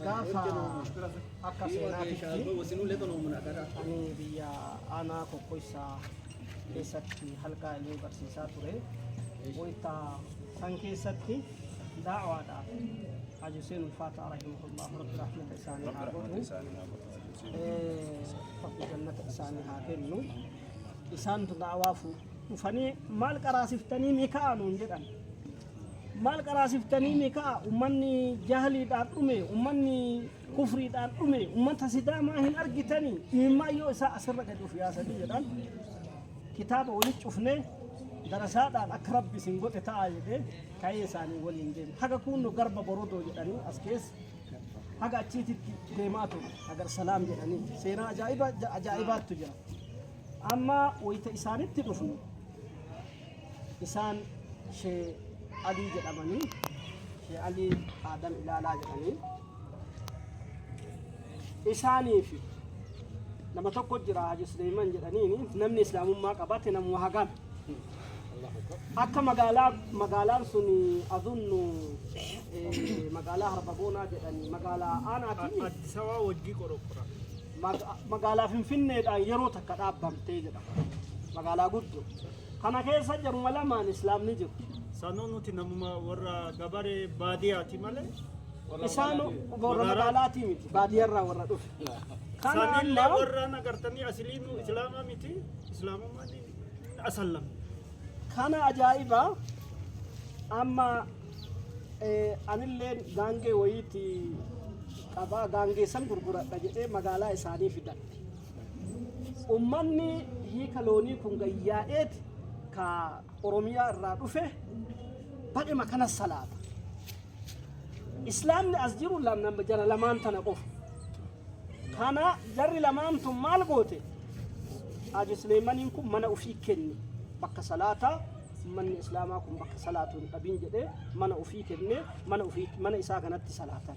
gaafa akka seenaatitti ani biyya aanaa kokkoissaa keessatti halkaa illee barsiisaa ture. Wayita san keessatti daawaadhaaf Haji Hussein Ulfaataa rahimahullah rabbi rahmata isaanii haa godhu. Rabbi jannata isaanii haa kennu. Isaantu daawaa dhufanii maal qaraasiftanii ni ka'anuun jedhan. Maal qaraasiftaniimi ka'a ummanni jahliidhaan dhume, ummanni kufriidhaan dhume, ummata sidaamaa hin argitani imimmaan yoo isaa asirra gadi of yaasanii jedhan kitaaba walitti cufnee darasaadhaan akka rabbi isin godhe ta'a jedhee ka'ee isaanii waliin deeme. Haga kuunno garba borodoo jedhanii as keessa haga achiititti deemaa ture hagar salaam jedhanii seenaa ajaa'iba ajaa'ibaattu jira. Amma wayita isaanitti dhufnu Isaan Shee Alii jedhamanii Shee Alii Aadam Ilaalaa jedhanii isaanii fi nama tokko jira Haji Suleeyman jedhaniin namni islaamummaa qabate namuma hagaan akka magaalaa magaalaan sun azunnu eh, magaalaa harbagoonaa jedhanii magaalaa aanaatiin Addis Ababa wajjii qoroqora. maga- magaalaa finfinneedhaan yeroo takka dhaabbamtee jedhama magaalaa guddoo Kana keessa jiruma lamaan Islaamni jiru. Sanuu nuti namuma warra gabaree baadiyaati malee. Isaan warra magaalaatii miti baadiyarraa warra dhufe. Kana Sanillee amma warra nagartanii asiliinuu islaamaa miti islaamummaan ni asallam. kana ajaa'iba amma eh, anilleen gaangee wayiiti qabaa gaangee san gurguradha jedhee magaalaa isaanii fidan. Ummanni hiika loonii kun gayyaa'eeti ka Oromiyaa irraa dhufe badhema kana salaata. Islaamni as jiru lam- nam- jara lamaan tana qofa. Kana jarri lamaan tun maal goote? Haji Suleeymaniin kun mana ofii kenne bakka salaataa manni Islaamaa kun bakka salaatu hin dhabin jedhee mana ofii kenne mana ofii mana isaa kanatti salaatan.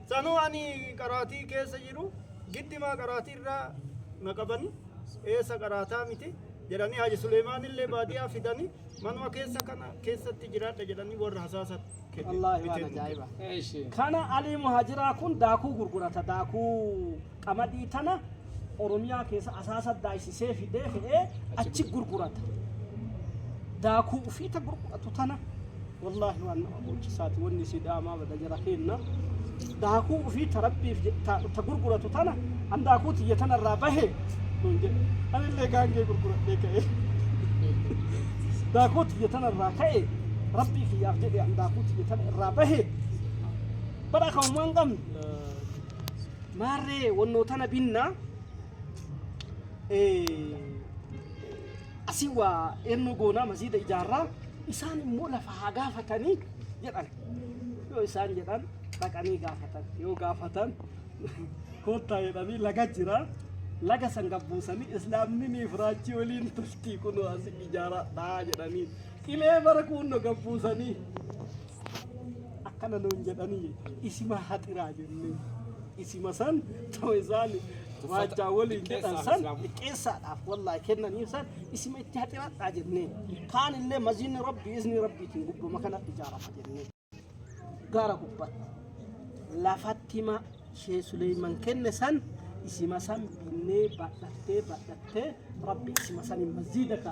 Sanuu ani qaraatii keessa jiru giddimaa qaraatii irraa na qabani eessa qaraataa miti jedhanii Haaji Suleemaan illee baadiyaa fidanii manuma keessa kana keessatti jiraadha jedhanii warra hasaasa kenne. Wallaahi waan bitee ajaa'iba. Kana Alii Muhajiraa kun daakuu gurgurata daakuu. qamadii tana Oromiyaa keessa asaasa daaysisee fidee fe'ee achi gurgurata. Daakuu ufiita gurguratu tana wallaahi waan nama boochisaati wanni sidaamaa bada jara keenna. Daakuu ufiita rabbiif ta gurguratu tana an daakuu tiyya tana irraa bahe nuun jedhe. Anillee gaangee gurguradhee ka'e. Daakuu tiyya tana irraa ka'e rabbii kiyyaaf jedhe an daakuu tiyya tana irraa bahe. Bara kan waan qabne. Maarree wannoo tana binna asii waa eennu goonaa masiida ijaarraa isaan immoo lafa haa gaafatanii jedhan. Yoo isaan jedhan dhaqanii gaafatan. Yoo gaafatan koottaa jedhanii laga jira. Laga san gabbuusanii islaamni ni firaachii waliin toltii kunoo asii ijaaradhaa jedhanii. Qilee bara kuunno gabbuusanii. akkana nuun jedhanii isima haxiraa jennee isima san too isaan waajjaa waliin jedhan san xiqqeessaadhaaf wallaahi kennaniif san isima itti haxiradhaa jennee kaan illee maziinni rabbii isni rabbiitiin gubbama kana ijaarama jennee gaara gubbatti lafattima shee Suleeyman kenne san isima san binnee badhattee badhattee rabbi isima san hin masjiida ka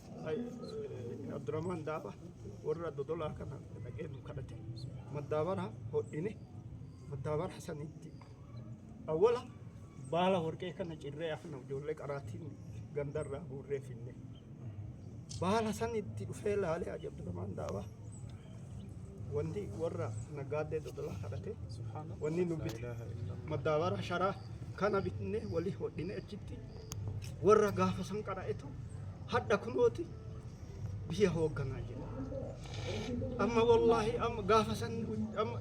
Abdurrahmaan Daaba warra dodolaa kana dhaqee nu kadhate. Maddaabara hodhine maddaabara sanitti awwala baala warqee kana cirree afna ijoollee qaraatiin gandarraa guurree finne. Baala sanitti dhufee laalee Haji Abdurrahmaan Daaba wanti warra nagaaddee dodolaa kadhate wanni nu bite maddaabara sharaa kana bitne walii hodhine achitti warra gaafa san qara'etu hadha kunooti biyya hoogganaa jira. Amma wallaahi amma gaafa san amma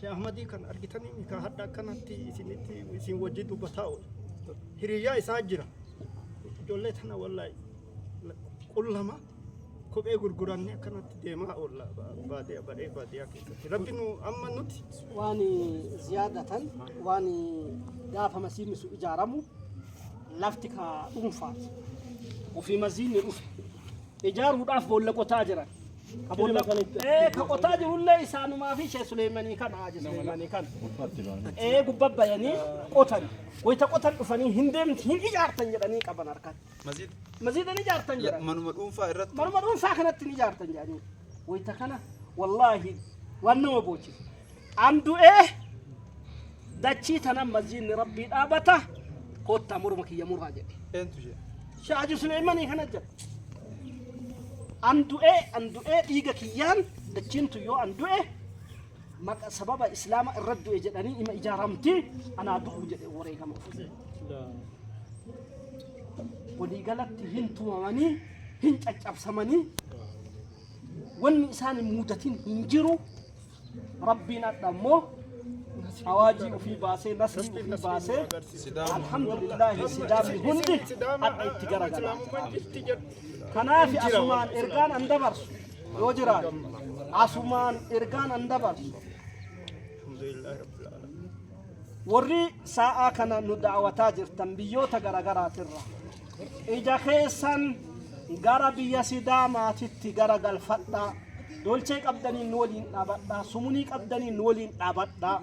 Sheekh Ahmadii kan argitanii ka hadha akkanatti isinitti isin wajjin dubbataa oolu. Hiriyyaa isaa jira. Ijoollee tana wallaahi qullama. kophee gurgurannee akkanatti deemaa oolla baadiyyaa badhee baadiyyaa keessatti rabbi nu amma nuti waan ziyaadatan waan gaafa masiinni sun ijaaramu lafti ka dhuunfaa ofii masiinni dhufe ijaaruudhaaf boolla qotaa jiran ka boolla ee ka qotaa jirullee isaanumaa fi ishee suleemanii kana haaji suleemanii kana ee gubba bayanii qotan wayita qotan dhufanii hin deemti hin ijaartan jedhanii qaban harkatti Masjid Masjida ni jaartan jedhan. manuma dhuunfaa irratti Manuma dhuunfaa kanatti ni jaartan jedhanii. Wayita kana wallaahi waan nama boochisu. An du'ee dachii tanan masjidni rabbii dhaabata koottaa morma kiyya muraa jedhe. eentu jedhe. Sheekh Hajji Suleeymanii kana jedhe. An du'ee an du'ee dhiiga kiyyaan dachiin tun yoo an du'e maqa sababa islaama irra du'e jedhanii ima ijaaramti anaa du'u jedhe wareegama ofii waliigalatti hin tumamanii hin caccabsamanii wanni isaan hin muudatin hin jiru rabbiin adha immoo awaajii ofii baasee nasrii ofii baasee alhamdulillaahi sidaamni hundi adha itti garagala kanaaf asumaan ergaan an dabarsu yoo jiraate asumaan ergaan an dabarsu warri sa'aa kana nu daawwataa jirtan biyyoota garaagaraatirra ija keessan gara biyya sidaamaatitti gara galfadhaa dolchee qabdaniin nu waliin dhaabadhaa sumunii qabdaniin nu waliin dhaabadhaa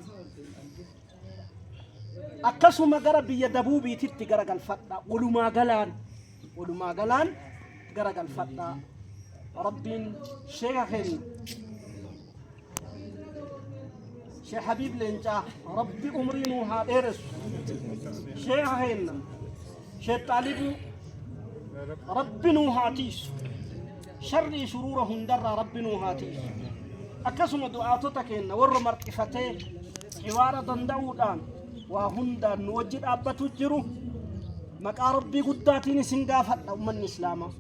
akkasuma gara biyya dabuubiititti gara galfadhaa walumaa galaan walumaa galaan garagalfadhaa rabbiin sheeka keenya sheekh habiib leencaa rabbi umrii nuu haa dheeressu sheeka keenya sheekh xaalibuu rabbi nuu haa tiisu sharrii shuruura hundarraa rabbi nuu haa tiisu akkasuma du'aatota keenya warra marxifatee xiwaara danda'uudhaan waa hundaan nu wajji dhaabbatu jiru maqaa rabbii guddaatiin isin gaafadha ummanni islaamaa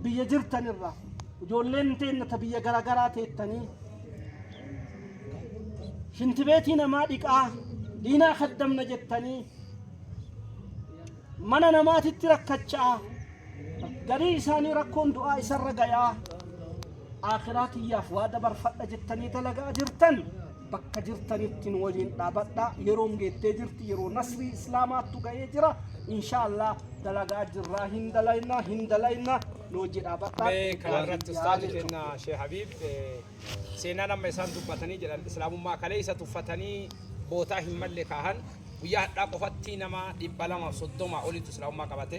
biyya jirtan irraa ijoolleen teenna ta biyya garaagaraa teettanii shintibeetii namaa dhiqaa diinaa kaddamna jettanii mana namaatitti rakkachaa garii isaanii rakkoon du'aa isarra gayaa aakiraa tiyyaaf waa dabarfadha jettanii dalagaa jirtan bakka jirtanitti nu waliin dhaabadha yeroon geettee jirti yeroo nasrii islaamaattu ga'ee jira inshaallah dalagaa jirraa hin dalayna hin dalayna nu wajji dhaabadha mee kana irratti ustaazi keenya shee habiib seenaa nama isaan dubbatanii jedhan islaamummaa kalee isa tuffatanii bootaa hin malle kaahan guyyaa hadhaa qofatti nama dhibba lamaaf soddoma olitu islaamummaa qabate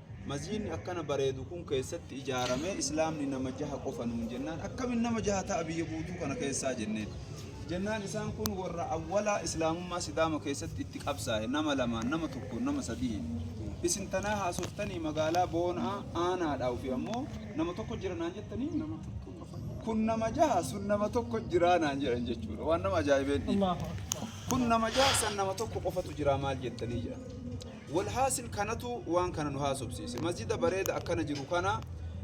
Masjiidni akkana bareedu kun keessatti ijaarame islaamni nama jaha qofa nuun jennaan akkamin nama jaha ta'a biyya guutuu kana keessaa jenneen. Jennaan isaan kun warra awwalaa islaamummaa sidaama keessatti itti qabsaa'e nama lamaan nama tokko nama sadiin. Isin tanaa haasoftanii magaalaa boonaa aanaadhaa ofi ammoo nama tokko jira naan jettanii nama kun nama jaha sun nama tokko jiraa naan jedhan jechuudha waan nama ajaa'ibeen kun nama jaha san nama tokko qofatu jiraa maal jettanii jedhan. Walhaasil kanatu waan kana nu haasofsiise. Masjida bareeda akkana jiru kana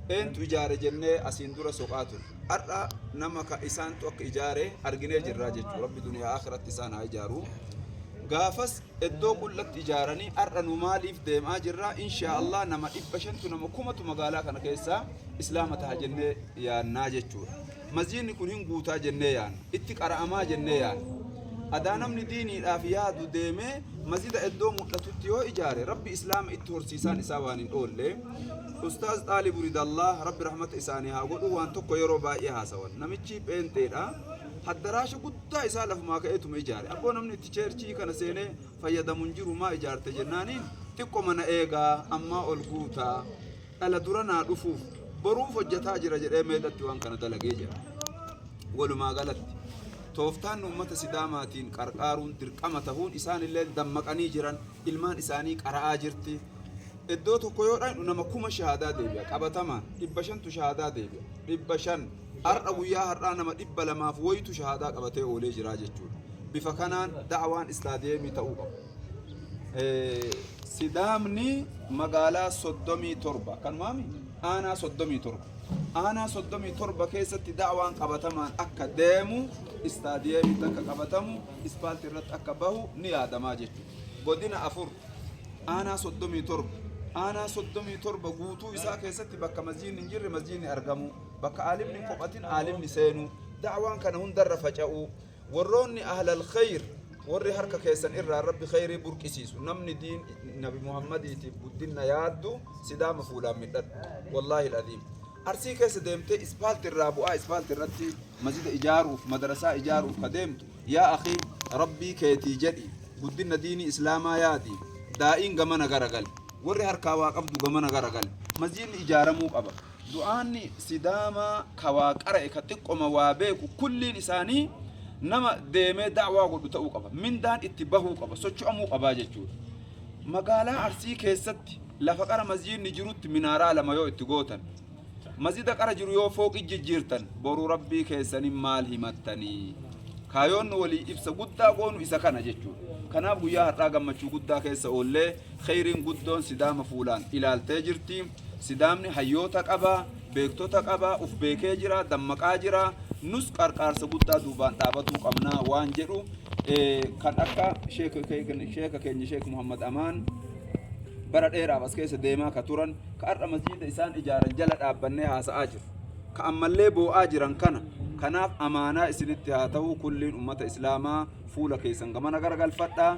eentu ijaare jennee asiin dura soqaa ture. Har'a nama ka isaantu akka ijaare arginee jirraa jechuudha. Rabbi duniyaa akhiratti isaan haa ijaaru. Gaafas iddoo qullatti ijaaranii har'a nu maaliif deemaa jirra? Inshaa Allah nama dhibba shantu nama kumatu magaalaa kana keessaa islaama taha jennee yaannaa jechuudha. Masjiidni kun hin guutaa jennee yaanna. Itti qara'amaa jennee yaanna. Adaa namni diiniidhaaf yaadu deemee masjida iddoo mul'atutti yoo ijaare rabbi islaama itti horsiisaan isaa waan hin oolle. Ustaaz Xaalibu Ridallaa rabbi rahmata isaanii haa godhu waan tokko yeroo baay'ee haasawan. Namichi pheenxeedha. Haddaraasha guddaa isaa lafumaa ka'eetuma ijaare. Abboo namni itti cheerchii kana seenee fayyadamu hin jiru maa ijaarte jennaaniin xiqqoma na eegaa ammaa ol guutaa. dhala dura naa dhufuuf boruuf hojjetaa jira jedhee meeqatti waan kana dalagee jira. Walumaa galatti tooftaan uummata Sidaamaatiin qarqaaruun dirqama tahuun isaanillee dammaqanii jiran ilmaan isaanii qara'aa jirti. Iddoo tokko yoo dhaqnu nama kuma shahaadaa deebi'a qabatamaan dhibba shantu shahaadaa deebi'a dhibba shan har'a guyyaa har'aa nama dhibba lamaaf wayitu shahaadaa qabatee oolee jiraa jechuudha. Bifa kanaan da'awaan istaadiyeemii ta'uu qaba. Sidaamni magaalaa 37 kanumaami aanaa 37 aanaa 37 keessatti da'waan qabatamaan akka deemu istaadiyeemitti akka qabatamu ispaalti irratti akka bahu ni yaadamaa jechuudha. Godina afur aanaa 37 aanaa 37 guutuu isaa keessatti bakka masjiidni hin jirre masjiidni argamu bakka aalimni hin kophatin aalimni seenu da'waan kana hundarra faca'u Warroonni ahlal khayr warri harka keessan irraa rabbi khayrii burqisiisu namni diin nabi muhammadiitiif guddinna yaaddu sidaama fuulaan midhadhu wallaahi al'aziim arsii keessa deemtee ispaalti irraa bu'aa ispaalti irratti masjida ijaaruuf madarasaa ijaaruuf ka deemtu yaa akii rabbii keetii jedhi guddinna diinii islaamaa yaadi daa'iin gamana garagali warri harkaa waa qabdu gamana garagali masjidni ijaaramuu qaba Du'aanni Sidaamaa ka waa qara'e ka xiqqoma waa beeku kulliin isaanii nama deemee da'waa godhu ta'uu qaba. Mindaan itti bahuu qaba, socho'amuu qabaa jechuudha. Magaalaa Arsii keessatti lafa qara masjiidni jirutti minaaraa lama yoo itti gootan, masjida qara jiru yoo fooqi jijjiirtan, boru rabbii keessaniin maal himattanii? Kaayoon nu walii ibsa guddaa goonu isa kana jechuudha. Kanaaf guyyaa har'aa gammachuu guddaa keessa oollee kheyriin guddoon Sidaama fuulaan ilaaltee jirti. Sidaamni hayyoota qaba, beektota qaba, uf beekee jira, dammaqaa jira. Nus qarqaarsa guddaa duubaan dhaabatuu qabna waan jedhu kan akka sheeka keenya Sheek Muhammad Amaan bara dheeraaf as keessa deemaa ka turan ka har'a masjiida isaan ijaaran jala dhaabbannee haasa'aa jiru. Ka ammallee boo'aa jiran kana kanaaf amaanaa isinitti haa ta'u kulliin ummata islaamaa fuula keessan gamana garagalfadhaa.